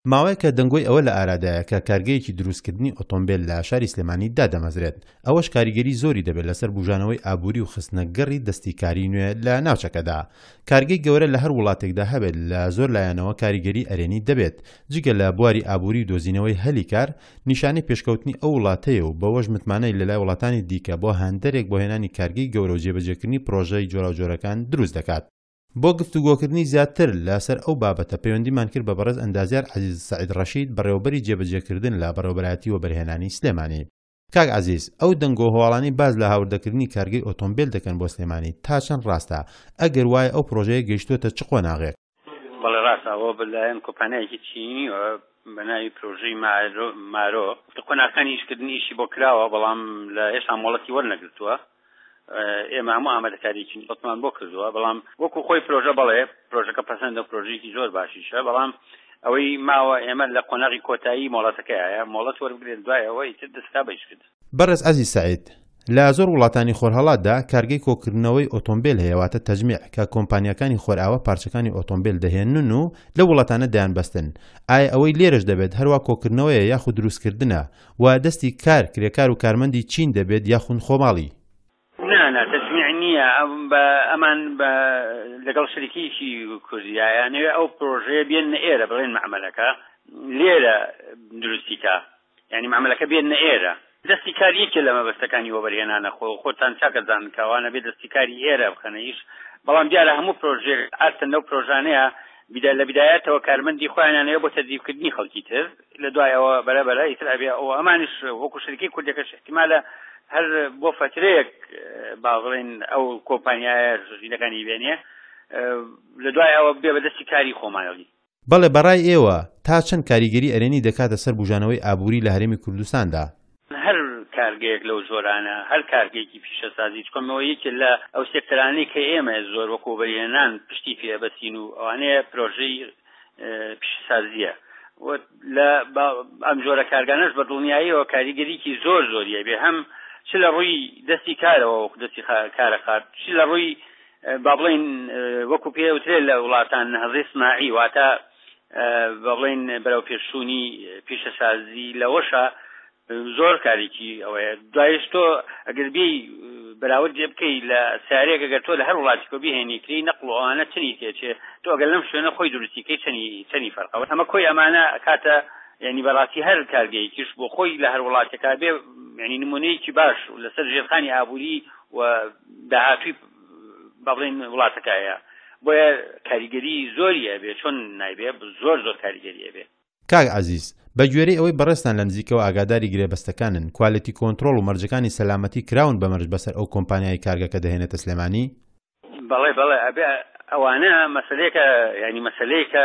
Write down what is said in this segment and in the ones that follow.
ماوەیەکە دەنگۆی ئەوە لە ئارادایە کە کارگەیەکی دروستکردنی ئۆتۆمبێل لە شاری سلێمانی دادەمەزرێت، ئەوەش کاریگەری زۆری دەبێت لەسەر بوژانەوەی ئابوری و خستنە گەڕی دەستی کاری نوێ لە ناوچەکەدا، کارگەی گەورە لە هەر وڵاتێکدا هەبێت لە زۆر لایەنەوە کاریگەری ئەرێنی دەبێت، جگە لە بواری ئابوری و دۆزینەوەی هەلی کار، نیشانەی پێشکەوتنی ئەو وڵاتەیە و بەوەش متمانەی لەلای وڵاتانی دیکە بۆ هاندەرێک بۆ هێنانی کارگەی گەورە و جێبەجێکردنی پرۆژەی جۆراوجۆرەکان دروست دەکات. بۆ گفتوگۆکردنی زیاتر لە سەر ئەو بابەتە پەیوەندیمان کرد بە بەڕێز ئەندازیار عەزیز سەعید ڕەشید بەڕێوەبەری جێبەجێکردن لە بەڕێوەبەرایەتی وەبەرهێنانی سلێمانی. کاک عەزیز ئەو دەنگۆ و هەواڵانەی باس لە هاوردەکردنی کارگەی ئۆتۆمبێل دەکەن بۆ سلێمانی تا چەند ڕاستە؟ ئەگەر وایە ئەو پڕۆژەیە گەیشتووەتە چ قۆناغێک؟ بەڵێ ڕاستە ئەوە بە لایەن کۆمپانیایەکی چینییەوە بە ناوی پرۆژەی مارۆ لە قۆناغەکانی ئیشکردنی ئیشی بۆ کراوە بەڵام لە هێشتا مۆڵەتی وەرنەگرتووە ئێمە هەموو ئامادەکاریی بەتمان بۆ کردووە بەڵام وەکو خۆی پرۆژە بەڵێ پرۆژەکە پەسەندە پرۆژێکی زۆر باشیشە بەڵام ئەوەی ماوە ئێمە لە قۆناغی کۆتایی مۆڵەتەکەیە مۆڵەت وەربگرێت دوای ئەوەی تر دەستا بەیش کرد بەڕێز عەزیز سەعید، لە زۆر وڵاتانی خۆرهەڵاتدا کارگەی کۆکردنەوەی ئۆتۆمبێل هەیە واتە تەجمیع کە کۆمپانیاکانی خۆرئاوا پارچەکانی ئۆتۆمبێل دەهێنن و لەو وڵاتانە دەیانبەستن، ئایا ئەوەی لێرەش دەبێت هەروا کۆکردنەوەیە یاخود دروستکردنە؟ و دەستی کار کرێکار و کارمەندی چین دەبێت یاخون خۆماڵی؟ نا نا تەجمیع نییە بە ئەمان بە لەگەڵ شەریکیکی کوردیا یانەوێ ئەو پرۆژەیە بێننە ئێرە بڵێن مەعمەلەکە لێرە دروستی کا یانی مەعمەلەکە بێننە ئێرە دەستی کار یەکێ لە مەبەستەکانی وەبەرهێنانە خۆ خۆتان چاکە زان کاوانە بێ دەستی کاری ئێرە بخەنە ئیش بەڵام دیارە هەموو پرۆژێ ئاستن لەو پرۆژانەیە بدا لە بدایەتەوە کارمەندی خۆیانانەیە بۆ تەدیبکردنی خەڵکی تر لە دوای ئەوە بەرە بەرە ئیتر ئەبێ ئەو ئەمانش وەکو شرکی کوردەکەش احتیمالە هەر بۆ فترەیەک باڵێن ئەو کۆمپانیایە ژینەکانی بێنێ لە دوای ئەوە بێ بەدەستی کاری خۆمانەوەی بەڵێ بەڕای ئێوە تا چەند کاریگەری ئەرێنی دەکاتە سەر بوژانەوەی ئابوری لە هەرێمی کوردستاندا؟ هەر کارگەیەک لەو جۆرانە، هەر کارگەیەکی پیشەسازی، چکۆ مەوە یەکێ لە ئەو سێکتەرانەی کە ئێمە زۆر وەکوو وەبەرهێنان پشتی پێ ئەبەستین و ئەوانەیە پرۆژەی پیشەسازییە و لە ئەم جۆرە کارگانەش بە دڵنیاییەوە کاریگەریکی زۆر زۆریە بێ هەم چ لە ڕووی دەستی کارەوە وەکو دەستی کارە قات چ لە ڕووی با بڵین وەکو پێوترێ لە وڵاتان نەهزی سناعی واتە بڵێن بەرەوپێشچوونی پیشەسازی لەوەشە زۆر کارێکی ئەوەیە دوایش تۆ ئەگەر بی بەراورد جێ بکەی لە سارێک گەگە تۆ لە هەر وڵاتیکۆ بهێنی کری نەقل و ئەوانە چنی تێچێ تۆ ئەگەر لەم شوێنە خۆی دروستیکەی چنی چنی فەرقەوە ئەمە کۆی ئەمانە کاتە ینی بەڕاستی هەر کارگەیەکیش بۆ خۆی لە هەر وڵاتەکە بێ ینی نمونەیەکی باش لەسەر ژێرخانی ئابووری و داهاتوی با بڵێین وڵاتەکە هەیە بۆیە کاریگەری زۆری ئەبێ چۆن نایبێ زۆر زۆر کاریگەری ئەبێ. کاک عەزیز، بە گوێرەی ئەوەی بەڕێزتان لە نزیکەوە ئاگاداری گرێبەستەکانن، کوالێتی کۆنترۆڵ و مەرجەکانی سەلامەتی کراون بە مەرج بەسەر ئەو کۆمپانیایەی کارگەکە دەهێنێتە سلێمانی؟ بەڵێ بەڵێ ئەبێ ئەوانە مەسەلەیەکە یانی مەسەلەیەکە.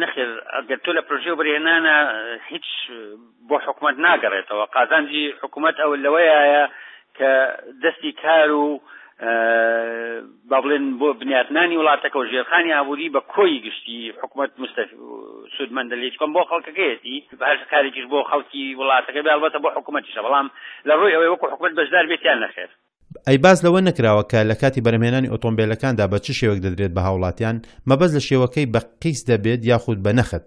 نەخێر ئەگەر تۆ لە پرۆژەی وەبەرهێنانە هیچ بۆ حکوومەت ناگەڕێتەوە قازانجی حکوومەت ئەو لەوەیە کە دەستی کار و با بڵێن بۆ بنیاتنانی وڵاتەکە و ژێرخانی ئابووری بە کۆی گشتی حکوومەت مستەف سوودمەندە لە هیچکەم بۆ خەڵکەکەیەتی بەهش کارێکیش بۆ خەڵکی وڵاتەکە بێڵبەتە بۆ حکوومەتیشە بەڵام لە ڕووی ئەوەی وەکو حکوومەت بەشدار بێتیان نەخێر ئەی باس لەوە نەکراوە کە لە کاتی بەرهەمهێنانی ئۆتۆمبێلەکاندا بە چ شێوەک دەدرێت بە هاوڵاتیان، مەبەست لە شێوەکەی بە قیست دەبێت یاخود بە نەخت؟